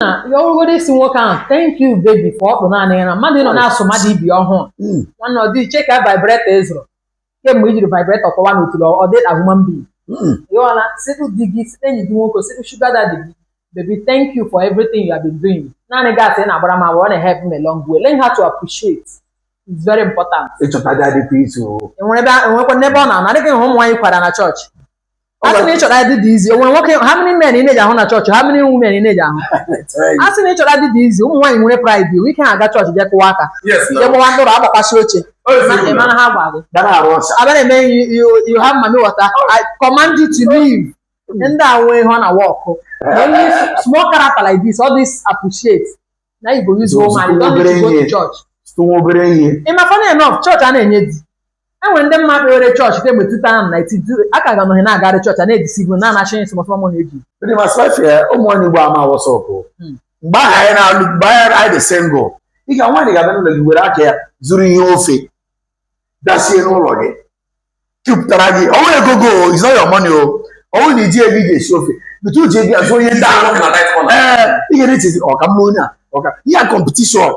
na ya ọ bụgodu ị sị nwoke ahụ thank you baby ka ọ kpụ naanị ya na mmadụ nọ na-asụ mmadụ ibi ọhụụ Mm. nwanne ọ dị iche ka vibrator ị zụrụ kemgbe i jiri vibrator kọwa n'otu na ọ dị a human being Mm. ịghọla sịtụ di gị sịtụ enyi gị nwoke sịtụ sugar daddy gị baby thank you for everything you have been doing naanị gas ị na-agbara m agba ọ na-help me long way learn how to appreciate it's very important ịchọta di adị pete o enwere ebe enwekwa n'ebe ọ na-anọ adịghị hụ ụmụ nwaanyị kwara na chọọchị ọ a sị na ga- ịchọta di dị easy o nwere nwoke how many men ị na-eji ahụ na chọọchị how many women ị na-eji ahụ a sị na ịchọta di dị easy ụmụ nwaanyị nwere pride iwu ike ha aga chọọchị jee kụwa aka yes na jee gbawa ndụrụ agbakwasị oche Ọ dị Ma- ị sịrị mara ha gwa gị dara arụ ọcha abịa na-eme you- you- you have mami water I command you to leave ndị a nwee ihe ọ na-work only small character like this all this appreciate na you go use Those woman you don't need to go obere to church site nwa obere ihe ị ma funny enough chọọchị a na-enye di e nwere ndị m ma kpewere chọọchị kemgbe 2019 a ka ga nọghị na-agarị chọọchị a na-edisibu na anachi nsị mọsọ mọ na-eji ndị ma sịpafị ya ụmụ nwaanyị ugbu a ama what's up Hmm. mgbe ahụ anyị na-alụ mgbe anyị anyị dị single ị ga nwaanyị ga-abịa n'ụlọ gị were aka ya zụrụ ihe ofe bịa sie n'ụlọ gị jupụtara gị ọnwa ego go is not your money o ọnwụ na iji ego ị ga-esi ofe bute uche gị azụ onye ndị ahụ ee ị ga na-echezi ọ ka mma onye a ọka ihe a competition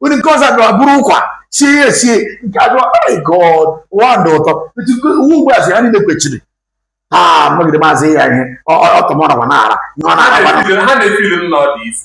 onye nke ọzọ bịara buru ụkwa sie ya esie nke a bịara my god ụwa dị ụtọ etu nke uwe ugbu a si ha niile kwechiri ha magide maazị ya ihe ọtọmọrọ ma na-ara ihe ọ na-ara ha na-efili m na ọ dị isi